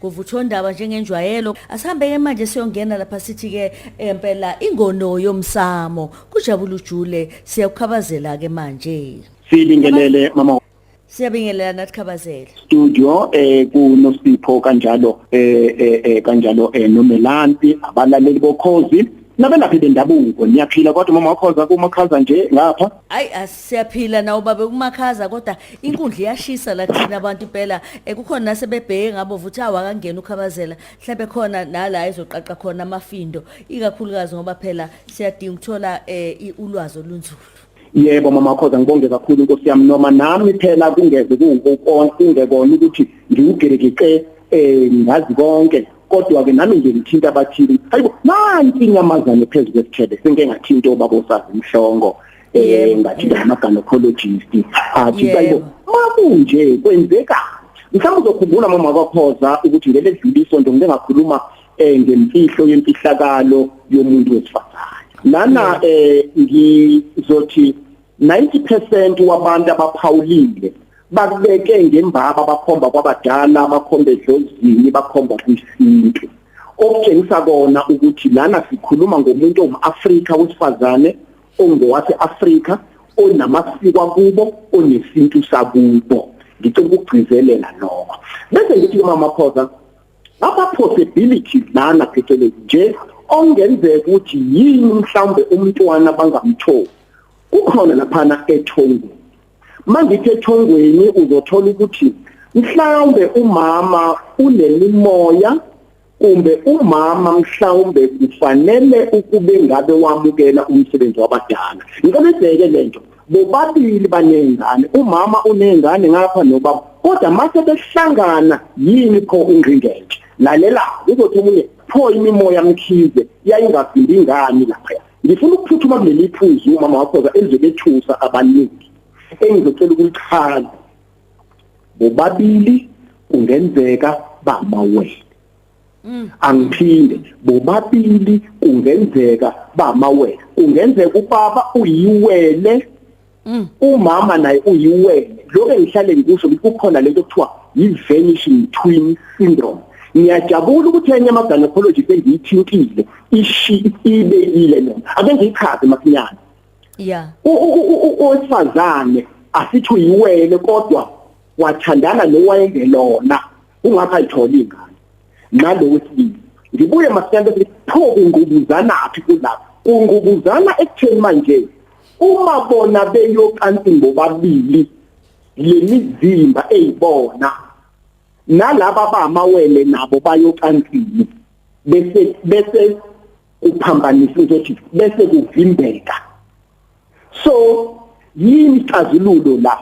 kuvuthondaba njengenjwayelo asihambe-ke manje siyongena lapha sithi-ke empela ingono yomsamo kujabula ujule siyakukhabazela-ke manje sibingelele mama Siyabingelela nathi Khabazela. Studio eh kunosipho kanjalo eh, eh eh kanjalo eh nomelanti abalaleli bokhozi nabelaphi bendabuko niyaphila kodwa mama wakhoza kumakhaza nje ngapha. Hayi Siyaphila nawo babe kumakhaza kodwa inkundla iyashisa la thina abantu impela eh, kukhona nasebebheke ngabo vuthi awu akangeni ukhabazela mhlawumbe khona nala ezoqaqa khona amafindo ikakhulukazi ngoba phela siyadinga ukuthola eh, i- ulwazi olunzulu Yebo mama Khoza ngibonge kakhulu Nkosi yami noma nami phela kungeze kuwukona kungekona ukuthi ngiwugerekike eh ngazi konke kodwa ke nami nje ngithinta abathili hayibo nanti inyamazane phezulu kwesithebe senke ngathinta obaba osazi mhlongo eh ngathi ngama gynecologist athi bayibo makunje kwenzeka mhlawumbe uzokhumbula mama kwakhoza ukuthi ngeke edlule isonto ngike ngakhuluma eh ngemfihlo yemfihlakalo yomuntu wesifazane lana eh ngizothi 90% wabantu abaphawulile bakubeke ngembaba bakhomba kwabadala bakhomba edlozini bakhomba kwisintu okutshengisa kona ukuthi lana sikhuluma ngomuntu ongumAfrika wesifazane ongowase-Afrika onamasiko akubo onesintu sakubo ngicela ukugcizelela lokho bese ngithi umama Khoza ama possibilities lana phecelezi nje ongenzeka ukuthi yini mhlawumbe umntwana bangamtholi kukhona laphana ethongweni mangithi ethongweni uzothola ukuthi mhlawumbe umama unemimoya kumbe umama mhlawumbe kufanele ukube ngabe wamukela umsebenzi wabadala ngicela ubheke lento bobabili banezingane umama unezingane ngapha nobaba kodwa mase behlangana yini pho ingqingentshe lalela uzothi omunye pho imimoya mkhize yayingavimbi ingani lapha ngifuna ukuphuthuma kuleli phuzu umama wakho elizobethusa abaningi engizocela ukulichaza bobabili kungenzeka bamawele mm. angiphinde bobabili kungenzeka bamawele kungenzeka ubaba uyiwele mm. umama naye uyiwele lokho engihlale ngikusho ukuthi kukhona lento kuthiwa yi-vanishing twin syndrome ngiyajabula ukuthi enye ama-gynecologist engiyithintile ishi ibekile noma ake ngiyichaze masinyane yeah owesifazane asithi uyiwele kodwa wathandana nowayengelona ungakho ayitholi ingane nalo wesibili ngibuye masinyane bese pho kungubuzana aphi kulapha kungubuzana ekutheni manje uma bona beyocansi ngobabili lemizimba eyibona nalaba bamawele nabo bayocansini bese bese kuphambanisa ukuthi bese kuvimbeka so yini ixazululo la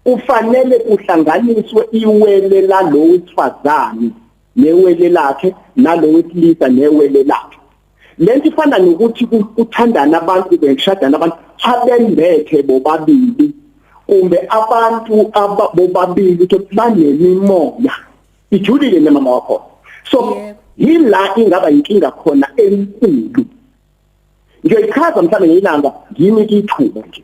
kufanele kuhlanganiswe iwele lalowo wesifazane newele lakhe nalowo wesilisa newele lakhe lento ifana nokuthi kuthandana abantu bengishadana abantu abembethe bobabili kumbe abantu bobabili ukuthi banemimoya ijulile nemama wakho so yila ingaba yinkinga khona enkulu ngiyayichaza mhlawumbe ngeyilanga yimi kithuba nje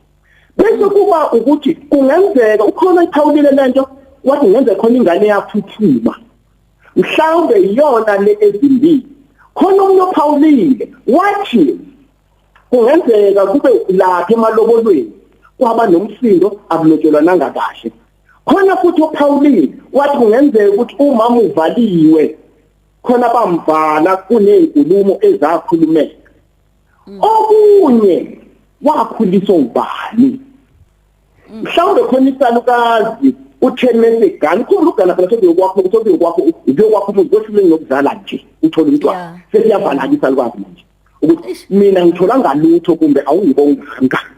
bese kuba ukuthi kungenzeka ukhona iphawulile lento wathi ngenze khona ingane yaphuthuma mhlawumbe iyona le ezimbili khona umuntu ophawulile wathi kungenzeka kube lapha emalobolweni kwaba nomsindo akulotshelwa nangakahle khona futhi uPauline wathi kungenzeka ukuthi umama uvaliwe khona bamvala kunezinkulumo ezakhulumeka mm. okunye wakhuliswa ubani mm. mhlawumbe khona isalukazi uthemese gani khona ugana phela sokuyo kwakho sokuyo kwakho uyo kwakho umuntu kwehlule ngokuzala nje uthola umntwana sesiyavala isalukazi manje ukuthi mina ngithola ngalutho kumbe awungibonga ngani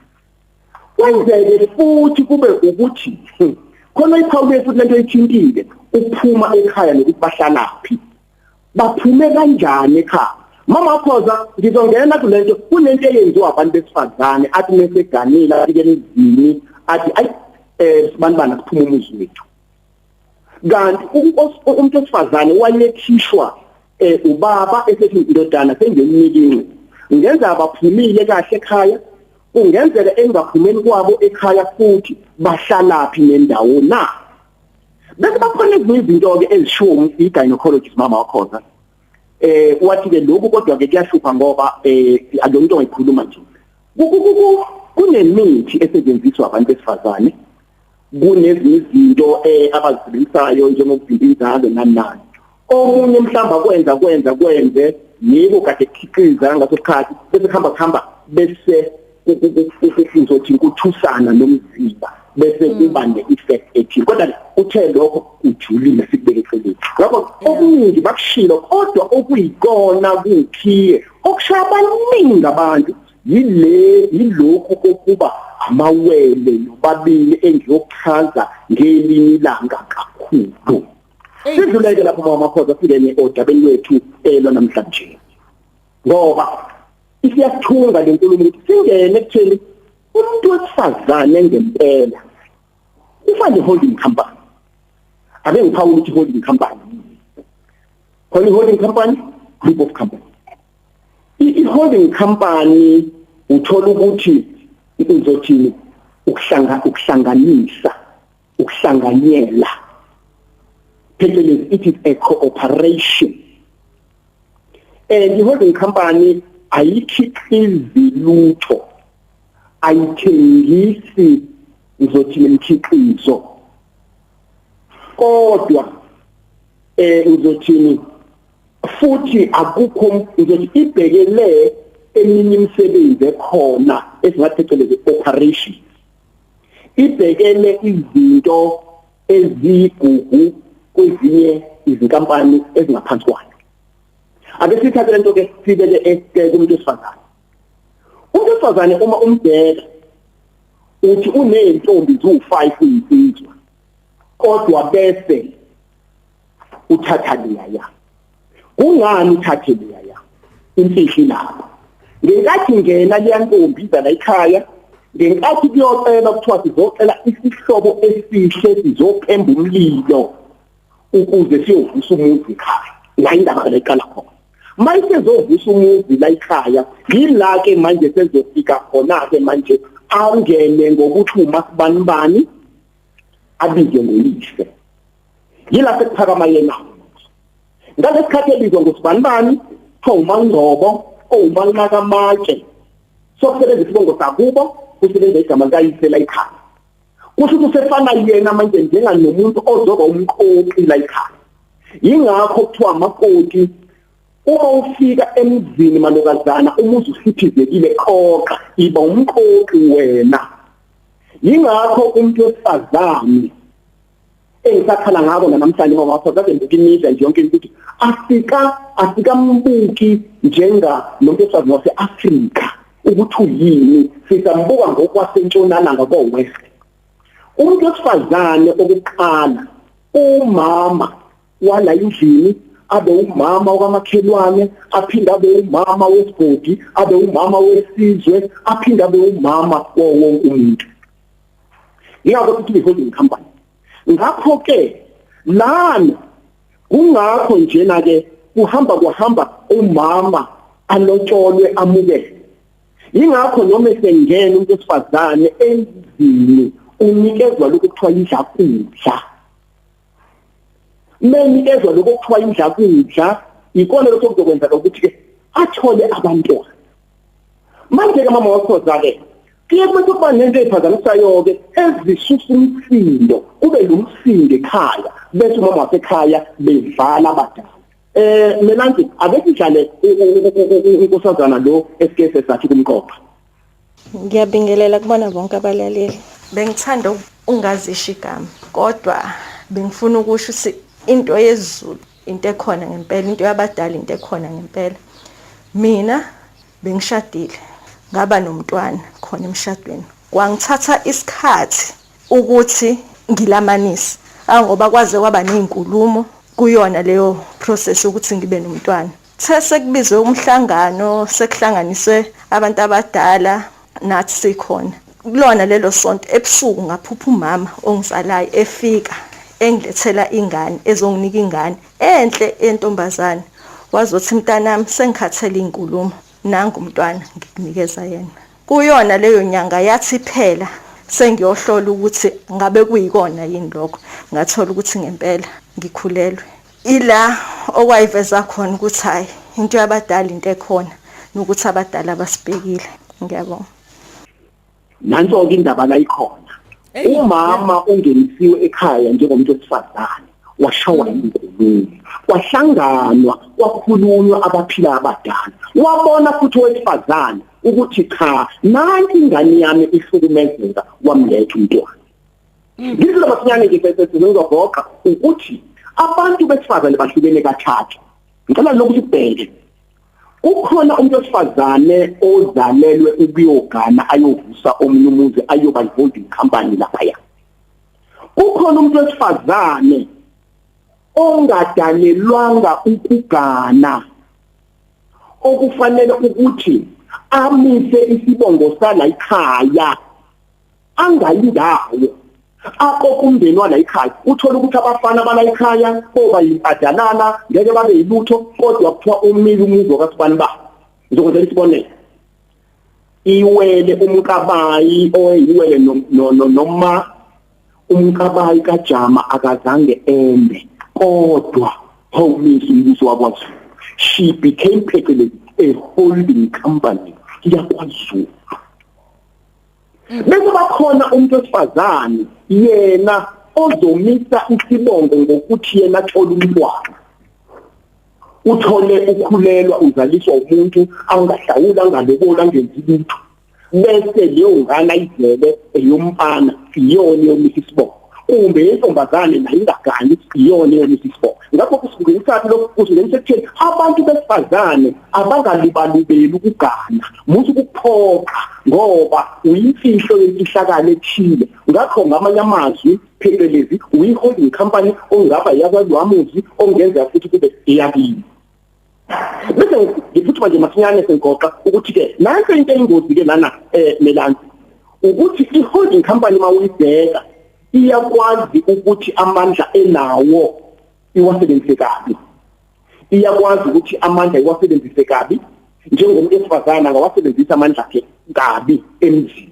kwenzeke futhi kube ukuthi khona iphawule futhi lento ithintile ukuphuma ekhaya nokuthi bahlalaphi baphume kanjani ekhaya mama khoza ngizongena kulento kunento eyenziwa abantu besifazane athi meseganile afike emzini athi ayi eh sibanibana kuphuma umuzi wethu kanti umuntu osifazane wayethishwa eh, ubaba esethi indodana sengiyomnikinqe ngenza abaphumile kahle ekhaya kungenzeka engaphumeli kwabo ekhaya futhi bahlalaphi nendawo na bese bakhona ezinye izinto ke ezishiwo i-gynecologist mama wakhona eh wathi ke lokhu kodwa ke kuyahlupha ngoba eh akuyonto ngikhuluma nje kunemithi esetshenziswa abantu besifazane kunezinye izinto eh abazisebenzisayo njengokuvimba inzalo nani nani omunye mhlawumbe akwenza kwenza kwenze yiko kade kukhiqiza ngaso sikhathi bese kuhamba kuhamba bese uzothi kuthusana nomzimba bese mm. kuba ne-effect ethile kodwa uthe lokho ujulile sikubeke eceleni ngakho okuningi bakushilo kodwa okuyikona kukhiye okushaya abaningi abantu yile yilokhu kokuba amawele nobabili engiyochaza ngelinye ilanga kakhulu sidluleke lapho mama khoza singene odabeni lwethu elo namhlanje ngoba isiyathunga lenkulumo ukuthi singene kuthini umuntu wesifazane ngempela Ufane holding company. Ake ngiphawule ukuthi holding company. Khona holding company group of company. I holding company uthola ukuthi izothini ukuhlanga ukuhlanganisa ukuhlanganyela phecelezi it is a cooperation and i holding company ayikhiqizi lutho ayithengisi ngizothi imkhiqizo kodwa eh ngizothini futhi akukho ngizothi ibhekele eminye imisebenzi ekhona esingathi phecelezi operation ibhekele izinto ezigugu kwezinye izinkampani ezingaphansi kwayo ake sithathe lento ke sibeke esike kumuntu esifazane Owesifazane uma umbheka uthi uneentombi ziwu-5 kuyinsizwa kodwa bese uthatha liyaya kungani uthathe liyaya imfihli lapho ngenkathi ngena liyantombi iza la ekhaya ngenkathi kuyocela kuthiwa sizocela isihlobo esihle sizophemba umlilo ukuze siyovusa umuntu ekhaya la indaba leqala khona mayisezovusa umuzi la ikhaya yila ke manje sezofika khona ke manje angene ngokuthi uma sibanibani abize ngoyise yila sekuphakama yena ngalesikhathi ebizwa ngosibanibani kuthiwa umangcobo owumanqaka amatshe sokusebenzisa isibongo sakubo kusebenza igama likayise la ikhaya kusho ukuthi usefana yena manje njenga nomuntu ozoba umqoqi la ekhaya yingakho kuthiwa amakoti uma ufika emzini malokazana umuzi usiphizekile qoqa iba umqoqi wena yingakho umuntu wesifazane engisakhala ngako namhlanje ngoba wakho kade ngikimiza nje yonke into asika asikambuki njenga nomuntu esazi wase Africa ukuthi uyini sisambuka ngokwasentshonalanga ko west umuntu osifazane okuqala umama wala endlini abe umama okamakhelwane aphinde abe umama wesigodi abe umama wesizwe aphinde abe umama wonke umuntu ingakho sithi i-holding company ngakho ke lana kungakho njena ke kuhamba kuhamba umama alotsholwe amukele ingakho noma esengena umuntu esifazane endlini unikezwa lokuthiwa yidla kudla meni ezwa lokho kuthiwa indla kudla ikona lokho kuzokwenza ukuthi ke athole abantwana manje ke mama wakho zake kuye kube kuba nento ephazamisayo ke ezisusa umsindo kube lomsindo ekhaya bese umama wasekhaya bevala abadala eh mina nje ake sidlale unkosazana lo esikese sathi kumqopha Ngiyabingelela kubona bonke abalaleli. Bengithanda ungazisho igama kodwa bengifuna ukusho ukuthi into yezulu into ekhona ngempela, into yabadala into ekhona ngempela. Mina bengishadile ngaba nomntwana khona emshadweni. Kwangithatha isikhathi ukuthi ngilamanise. Angoba kwaze kwaba nezinkulumo kuyona leyo process ukuthi ngibe nomntwana. Sesekubizwe umhlangano sekuhlanganiswe abantu abadala nathi sikhona kulona lelo sonto ebusuku ngaphupha umama ongizalayo efika engilethela ingane ezonginika ingane enhle entombazane wazothi mntanami sengikhathele inkulumo nangu umntwana ngikunikeza yena kuyona leyo nyanga yathi phela sengiyohlola ukuthi ngabe kuyikona yini lokho ngathola ukuthi ngempela ngikhulelwe ila okwayiveza khona ukuthi hayi into yabadala into ekhona nokuthi abadala basibhekile ngiyabonga nanso-ke indaba la ikhona umama ungenisiwe ekhaya njengomuntu wesifazane washawa inkulumo kwahlanganwa kwakhulunywa abaphila abadala wabona futhi owesifazane ukuthi cha nanti ingane yami ihlukumezeka wamletha umntwana Ngizwe masinyane nje bese sizogoqa ukuthi abantu besifazane bahlukene kathathu. Ngicela lokuthi ubheke. Kukhona umuntu wesifazane ozalelwe ukuyogana ayovusa omunye umuzi ayoba involved in company lapha ya. Kukhona umuntu wesifazane ongadalelwanga ukugana okufanele ukuthi amise isibongo sala ikhaya angayindawo akokumndeni wala ikhaya uthola ukuthi abafana bala ikhaya koba yimpadanana ngeke babe yilutho kodwa kuthiwa umile umuzi wakasibani ba ngizokwenza isibonelo iwele umkabayi oyiwele noma umkabayi kajama akazange ende kodwa hawumisa umbuso wakwaZulu she became phecelezi a holding company yakwaZulu bekuba khona umuntu osifazane yena ozomisa isibongo ngokuthi yena athola umntwana uthole ukhulelwa uzaliswa umuntu angahlawuli angaloboli angenzi lutho bese leyo ngane ayizele eyomfana iyona yomisa isibongo kumbe yentombazane nayo ingagani iyona yalesi sifo ngakho kusukuyisaphi lokhu kusingenisa ekutheni abantu besifazane abangalibalubeli ukugana muthi ukuphoqa ngoba uyimfihlo yemfihlakalo ethile ngakho ngamanye amazwi phecelezi uyi-holding company ongaba yakwaziwamuzi ongenza futhi kube iyakini bese ngiphuthuma nje masinyane sengigoqa ukuthi ke nanso into eyingozi ke lana eh melana ukuthi i-holding company mawuyibheka iyakwazi ukuthi amandla enawo iwasebenzise kabi iyakwazi ukuthi amandla iwasebenzise kabi njengomuntu esifazana ngawasebenzisa amandla akhe kabi emzini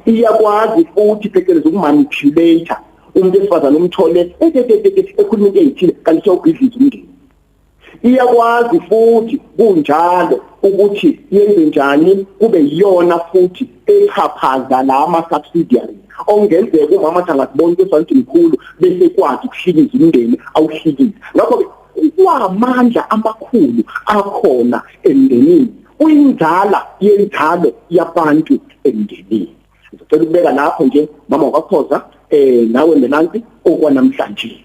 iyakwazi futhi phecelezi ukumanipulate umuntu esifazane umthole ekhuluma into eyithile kanti sewubhidliza umndeni iyakwazi futhi kunjalo ukuthi yenze njani kube yiyona futhi echaphaza la ama-subsidiary okungenzeka umama athi angazibona into esifana ukuthi mkhulu bese kwazi ukuhlikiza umndeni awuhlikize ngakho-ke Kuwamandla amakhulu akhona emndenini. Uyinzala yenzalo yabantu emndenini. Ngicela ukubeka lapho nje mama wakhoza eh nawe Melansi okwanamhlanje.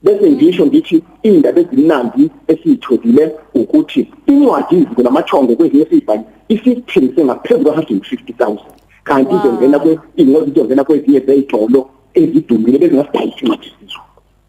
Bese ngisho ngithi indaba ezimnandi esiyitholile ukuthi incwadi iziko lamathongo kwezinye sibhali isithengise ngaphezulu kwa-150,000 kanti izongena kwe ingozizongena kwezinye zeyitolo ezidumile bezingasidayisi incwadi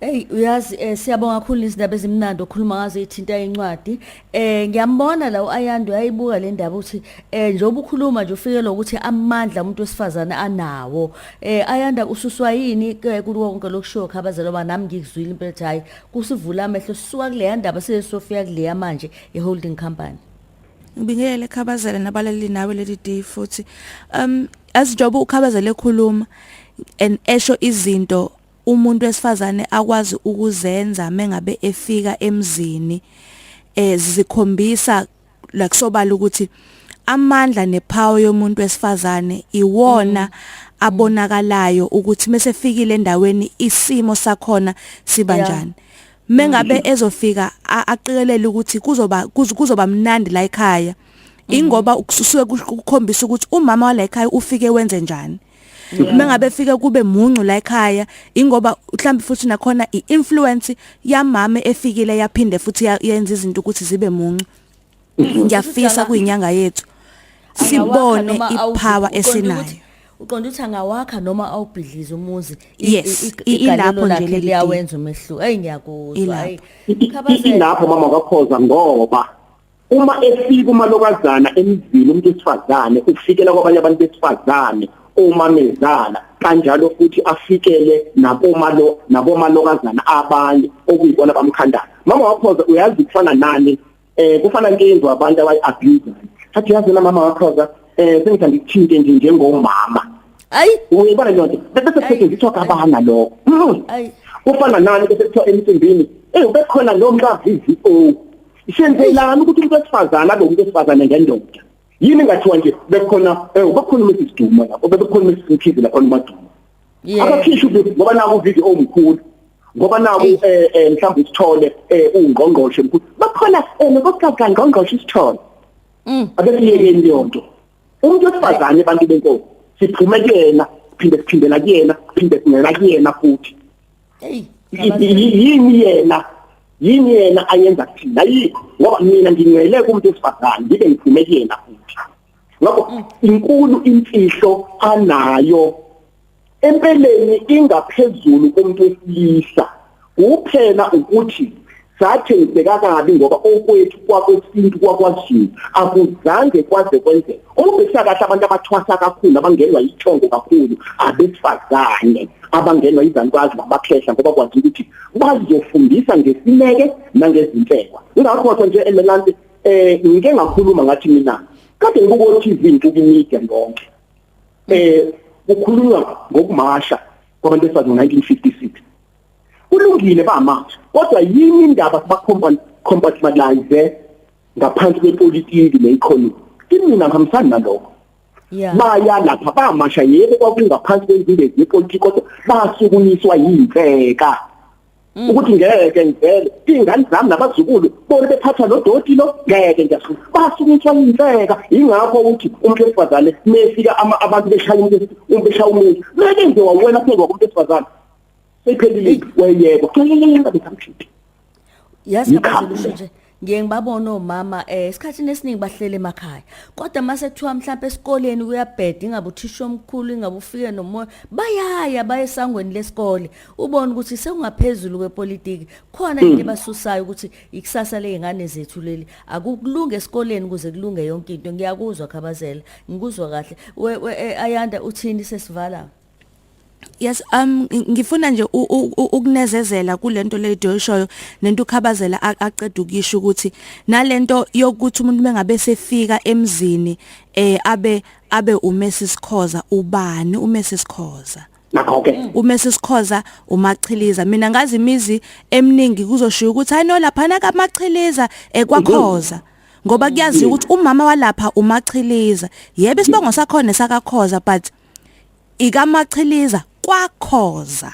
Hey uyazi eh, siyabonga kakhulu izindaba ezimnandi okhuluma ngazo ithinta incwadi eh ngiyambona la uAyando yayibuka le ndaba ukuthi eh njengoba ukhuluma nje ufike lokuthi amandla umuntu wesifazane anawo eh Ayanda ususwa yini ke kulo konke lokushiwo khabazelo ba nami ngikuzwile impela ukuthi hayi kusivula amehlo suka kule ndaba sesofika kule manje ye holding company ngibingele khabazela nabalali nawe leli day futhi um as njengoba ukhabazela ekhuluma and esho izinto umuntu wesifazane akwazi ukuzenza mengabe efika emzini eh zikhombisa la kusobala ukuthi amandla nepower yomuntu wesifazane iwona mm. abonakalayo ukuthi mesefikile endaweni isimo sakhona siba njani mengabe mm. ezofika aqikelele ukuthi kuzoba kuzoba mnandi la ekhaya mm. ingoba kusuke kukhombisa ukuthi umama wala ekhaya ufike wenze njani uma ngabe fike kube muncu la ekhaya ingoba mhlawumbe futhi nakhona iinfluence yamama efikile yaphinde futhi yenza izinto ukuthi zibe muncu mhm. ngiyafisa kuyinyanga yethu sibone ipower esinayo uqonda ukuthi angawakha noma awubhidlize umuzi ilapho nje liyawenza umehluko hey ngiyakuzwa hey ilapho mama kwakhoza ngoba uma efika umalokazana emzini umuntu wesifazane ufikela kwabanye abantu besifazane omamezala kanjalo futhi afikele nakomalo nakomalokazana abanye okuyibona bamkhandayo mama wakhoza uyazi kufana nani eh kufana nkinzo abantu abayi abuse athi yazi na mama wakhoza eh sengithanda ukuthinte nje njengomama ayi uyibona lonto bese kusetshenziswa kabana lokho hmm. ayi kufana nani bese kuthiwa emcimbini eh ubekhona lo mkavizi o Senzelani ukuthi umuntu wesifazane abe umuntu wesifazane ngendoda? Yini ngathiwa nje bekukhona eh bekukhona uMrs Duma lapho bekukhona uMrs Mkhize lapho uMaduma. Yeah. Abakhishwe ukuthi ngoba naku video omkhulu. Ngoba naku Eish. eh eh, mhlawumbe isithole eh ungqongqoshe mkhulu. Bakhona eh nokuxoxa ngqongqoshe isithole. Mm. Akesiyekeni leyo nto. Umuntu wesifazane abantu benkosi siphume kuyena siphinde siphindela kuyena siphinde singena kuyena futhi. hey yini yena yini yena ayenza kuthina yikho ngoba mina ngingcwele kumuntu esifazane ngibe ngiphume kuyena futhi ngakho mm. inkulu imfihlo anayo empeleni ingaphezulu kumuntu wesilisa kuphela ukuthi sathengiseka kabi ngoba okwethu kwakwesintu kwakwazulu akuzange kwaze kwenzeka ukubhekisa kahle abantu abathwasa kakhulu abangenwa yithongo kakhulu abesifazane abangenwa izanukwazi nabakhehla ngoba kwazi ukuthi bazofundisa ngesineke nangezinhlekwa ingakho nje emelante eh ngike ngakhuluma ngathi mina kade ngibuko TV ntuku media yonke eh kukhulunywa ngokumasha kwabantu besifazane 1956 kulungile bama kodwa yini indaba siba compartmentalize ngaphansi kwepolitiki ne-economy kimina ngihambisani nalokho Yeah. Baya lapha bamasha yebo kwakungaphansi kwezindezi yepolitiki kodwa basukunyiswa yimfeka. Mm. ukuthi ngeke ngivele ingane zami nabazukulu bona bephatha lodoti lo ngeke ngiyafuna basukunyiswa yimfeka ingakho ukuthi umuntu wesifazane mefika abantu beshaya umuntu umbeshaya umuntu meke nje wawena phezwa kumuntu wesifazane Seyiphelile impi wayeyeko. Bekamkhiphi. Yazi abazisho nje ngiye ngibabona omama eh esikhathini esiningi bahlele emakhaya kodwa mase kuthiwa mhlawumbe esikoleni kuyabheda ingabe uthisha omkhulu ingabe ufike nomoya bayaya baye esangweni lesikole ubone ukuthi sekungaphezulu kwepolitiki khona into hmm. ebasusayo ukuthi ikusasa lezingane zethu leli akukulunge esikoleni ukuze kulunge yonke into ngiyakuzwa khabazela ngikuzwa kahle we, we eh, ayanda uthini sesivala yes um ngifuna nje ukunezezela kulento leyo shoyo nento ukhabazela aqeda ukisho ukuthi nalento yokuthi umuntu mengabe sefika emzini eh abe abe umesi sikhoza ubani umesi sikhoza nakho ke mm. umesi sikhoza umachiliza mina ngazi imizi eminingi kuzoshiya ukuthi hayi no lapha na kamachiliza ekwakhoza eh, ngoba kuyaziwa ukuthi umama walapha umachiliza yebo isibongo sakhona sakakhoza but ikamachiliza kwakhoza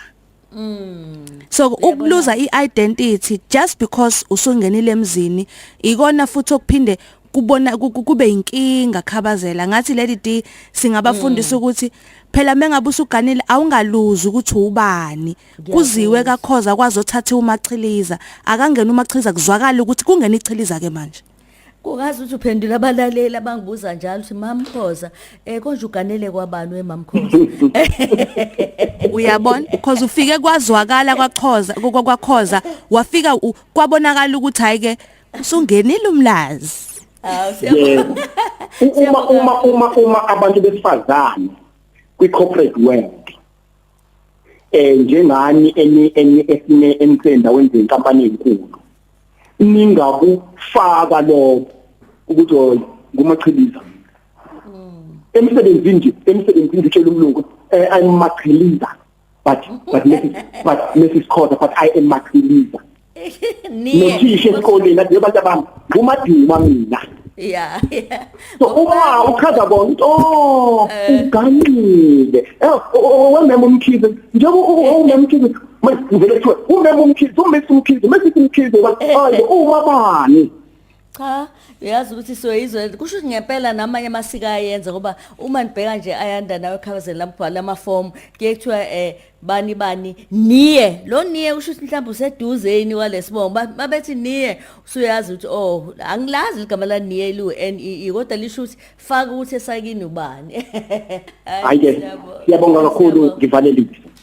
Mm. So ukuluza iidentity just because usungenile emzini ikona futhi okuphinde kubona kube inkinga khabazela ngathi lady D singabafundisa mm. ukuthi phela mengabe usuganile awungaluzi ukuthi ubani kuziwe kakhoza kwazothatha umachiliza akangena umachiliza kuzwakala ukuthi kungena ichiliza ke manje kungazi ukuthi uphendula abalaleli abangibuza njalo ukuthi mamkhoza um konje uganele kwabani wemamkhoza uyabona because ufike kwazwakala kwaxhoza kwakhoza wafika kwabonakala ukuthi hayi ke usungenile umlazi uma uma uma uma abantu besifazane kwi corporate world eh njengani eni eni esine ensenza wenze inkampani enkulu ningakufaka lokho ukuthi hoyi ngumachiliza mm. emsebenzini nje emsebenzini nje tshela umlungu eh I'm machiliza but but Mrs. but Mrs. Khoza but I am Makhiliza niye nothisha esikoleni athi abantu abami umaduma mina yeah yeah so uma uchaza bona ukuthi oh eh. uganile eh, wemema umkhize njengoba umema umkhize manje kuthiwa umema umkhize umesa umkhize mesithi umkhize wathi eh. hayi uma bani cha uyazi ukuthi soyizwe kusho ukuthi ngempela namanye amasiko ayenza ngoba uma nibheka nje ayanda nawe ekhabazeni lamgwala amafomu kuye kuthiwa um bani bani niye lo niye usho ukuthi mhlawumbe useduzeni walesibongo babethi niye usuyazi ukuthi oh angilazi ligama la niye lu N E E kodwa lisho ukuthi faka ukuthi esakini ubani hayi ke siyabonga kakhulu ngivalelise